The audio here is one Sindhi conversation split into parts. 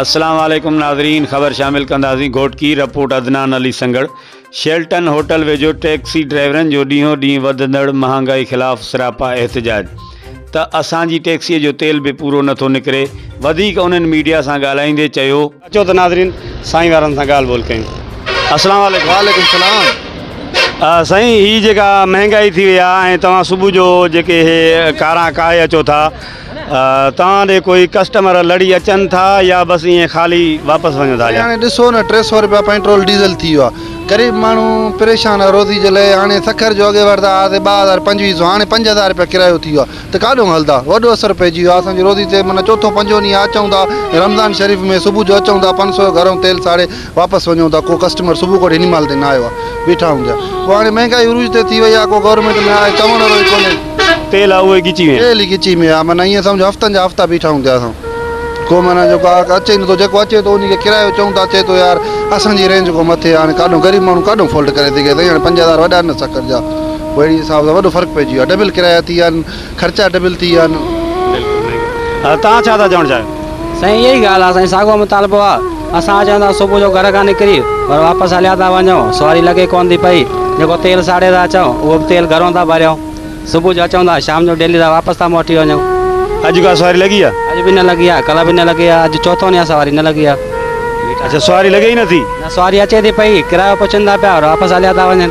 السلام عليڪم ناظرين خبر شامل ڪنداسين Ghotki report Adnan Ali Sanghar Shelton hotel ويجهو ٽيڪسي ڊرائيورن جو ڏينهون ڏينهن وڌندڙ مهانگائي خلاف سراپا احتجاج ته اسان جي ٽيڪسي جو تيل به پورو نٿو نڪري وڌيڪ انهن ميڊيا سان ڳالهائيندي چيو اچو ته ناظرين سائين وارن سان ڳالهه ٻولهه ڪيون السلام عليڪم وعليڪم السلام سائين هي جيڪا مهانگائي ٿي وئي آهي ۽ توهان صبح جو جيڪي هي ڪارا ڪاهي اچو ٿا توهان ڏي ڪوئي ڪسٽمر لڙي اچن ٿا يا بس ائين خالي واپس وڃو ٿا جا. هاڻي ڏسو نه ٽي سئو رپيا پئنٽرول ڊيزل ٿي ويو آ غريب ماڻهو پريشان آ روزي جي لئي هاڻي سکر جو اڳي ورتا هئاسي ٻه هزار پنجويهه سئو هاڻي پنج هزار رپيا ڪرايو ٿي ويو آ ته ڪاڏونگ هلدا وڏو اثر پئجي ويو آ اسان جي روزي تي معنيٰ چوٿون پنجون ڏينهن آ اچون ٿا رمضان شريف ۾ صبح جو اچون ٿا پنج سئو جو گهرون تيل ساڙي واپس وڃون ٿا ڪو ڪسٽمر صبح کان وٺي هن مهل تائين نه آيو آ بيٺا هونگيا پوء هاڻي مهنگائي عروج تي ٿي وئي آ ڪو گورنمينٽ ۾ آهي چوڻ وارو ئي ڪونهي. تيل آ اهو ئي ڳچي ۾ آ. تيل ئي ڳچي ۾ آ معنيٰ ائين سمجهه هفتن جا هفتا بيٺا هونگيا اسان ڪو معنيٰ جو گاهڪ اچي ئي نٿو جيڪو اچي ٿو ان کي ڪرايو چئون ٿا چئي ٿو يار اسان جي رينج کان مٿي آ هاڻي ڪاڏون غريب ماڻهو ڪاڏون فولٽ ڪري سگهي سائين هاڻي پنج هزار وڏا نه سکر جا پوء اهڙي حساب سان وڏو فرق پئجي ويو آ ڊبل ڪرايا ٿي ويا آهن. خرچا ڊبل ٿي ويا آهن. بلڪل سائين ها توهان ڇا ٿا چوڻ چاهيو. سائين اها ئي ڳالهه آ سائين ساڳو مطالبو آ اسان اچون ٿا صبح جو گهر کان نڪري ور واپس هليا ٿا وڃون سواري لڳي ڪون ٿي پئي جيڪو تيل ساڙي ٿا اچون اهو به تيل گهرون ٿا ڀريون صبح جو اچون ٿا شام جو ڊيلي ٿا واپس ٿا موٽي وڃون. اڄ ڪا سواري لڳي آ. اڄ به نه لڳي آ ڪلهه به نه لڳي آ اڄ چوٿون ڏينهن آ سواري نه لڳي آ. اڇا سواري لڳي ئي نٿي. نه سواري اچي ٿي پئي ڪرايو پڇن ٿا پيا ور واپس هليا ٿا وڃن.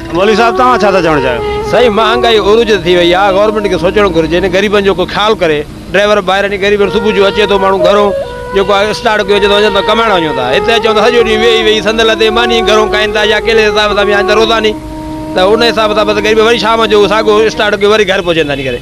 مولوي صاحب توهان ڇا ٿا چوڻ چاهيو؟ سائين مهانگائي عروج تي ٿي وئي آ گورنمينٽ کي سوچڻ گهرجي نه غريبن جو ڪو خيال ڪري ڊرائيور ڀائرن جي غريبن صبح جو اچي ٿو ماڻهو گهرون جيڪو آ اسٽارٽ ڪيو اچي ٿو وڃن ٿا ڪمائڻ وڃون ٿا هتي اچون ٿا سڄو ڏينهن ويهي ويهي سندن لتي ماني گهرون کائين ٿا يا ڪهڙي حساب سان به آهن ته روزاني ته ان حساب سان بس غريب وري شام جو ساڳو اسٽارٽ ڪيو وري گهر پهچين ٿا نڪري.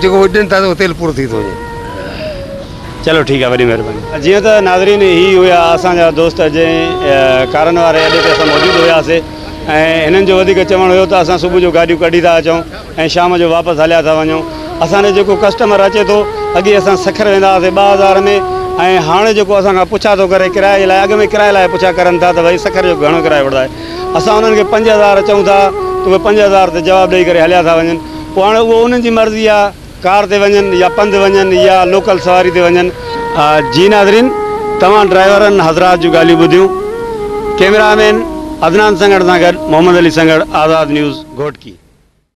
جيڪو وجهن ٿا اهو تيل پورو ٿي ٿو وڃي. چلو ٺيڪ آهي وڏي مهرباني. جيئن ته ناظرين هي هيا اسان جا دوست جنهن ڪارن واري اڏي تي اسان موجود هياسي ۽ هنن جو وڌيڪ چوڻ هيو ته اسان صبح جو گاڏيون ڪڍي ٿا اچون ۽ شام جو واپس هليا ٿا وڃون اسان جو جيڪو ڪسٽمر اچي ٿو اڳي اسان سکر ويندا هئاسي ٻه هزار ۾ ۽ هاڻ جيڪو اسان کان پڇا ٿو ڪري ڪرايي جي لاء اڳ ۾ ڪرايي لاء پڇا ڪرن ٿا ته ڀائي سکر جو گهڻو ڪرايو وٺندا آهيو اسان انهن کي پنج هزار چئون ٿا ته اهي پنج هزار تي جواب ڏئي ڪري هليا ٿا وڃن پوء هاڻي اهو انهن جي مرضي آهي ڪار تي وڃن يا پنڌ وڃن يا لوڪل سواري تي وڃن. جي ناظرين توهان ڊرائيورن حضرات جون ڳالهيون ٻڌيون ڪيمرا مين عدنان سنگهڙ سان گڏ محمد علي سنگهڙ آزاد نيوز گهوٽڪي.